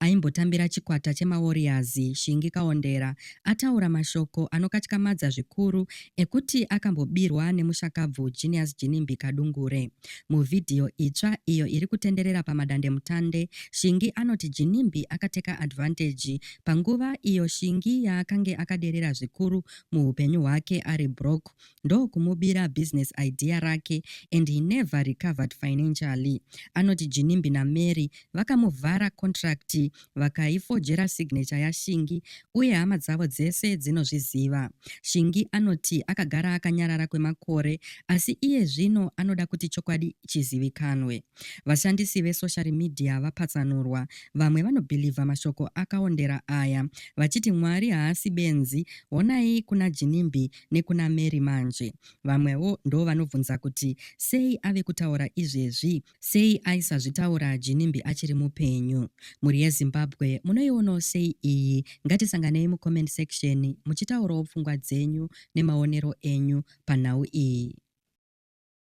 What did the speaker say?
Aimbotambira chikwata chemaWarriors, Shingi Kawondera, ataura mashoko anokatyamadza zvikuru ekuti akambobirwa nemushakabvu Genius Ginimbi Kadungure. Muvhidhiyo itsva iyo iri kutenderera pamadandemutande, Shingi anoti Ginimbi akateka advantage panguva iyo Shingi yaakange akaderera zvikuru muhupenyu hwake ari broke ndokumubira business idea rake and he never recovered financially. Anoti Jinimbi naMary vakamuvhara contract vakaifojera signature yaShingi uye hama dzavo dzese dzinozviziva. Shingi anoti akagara akanyarara kwemakore asi iye zvino anoda kuti chokwadi chizivikanwe. Vashandisi vesocial media vapatsanurwa, vamwe vanobhilivha mashoko akaondera aya vachiti Mwari haasi benzi, honai kuna Jinimbi nekuna Mary manje. Vamwewo ndovanobvunza kuti sei ave kutaura izvezvi, sei aisazvitaura Ginimbi achiri mupenyu. Mhuri yeZimbabwe munoionawo sei iyi? Ngatisanganei mucomment section muchitaurawo pfungwa dzenyu nemaonero enyu panhau iyi.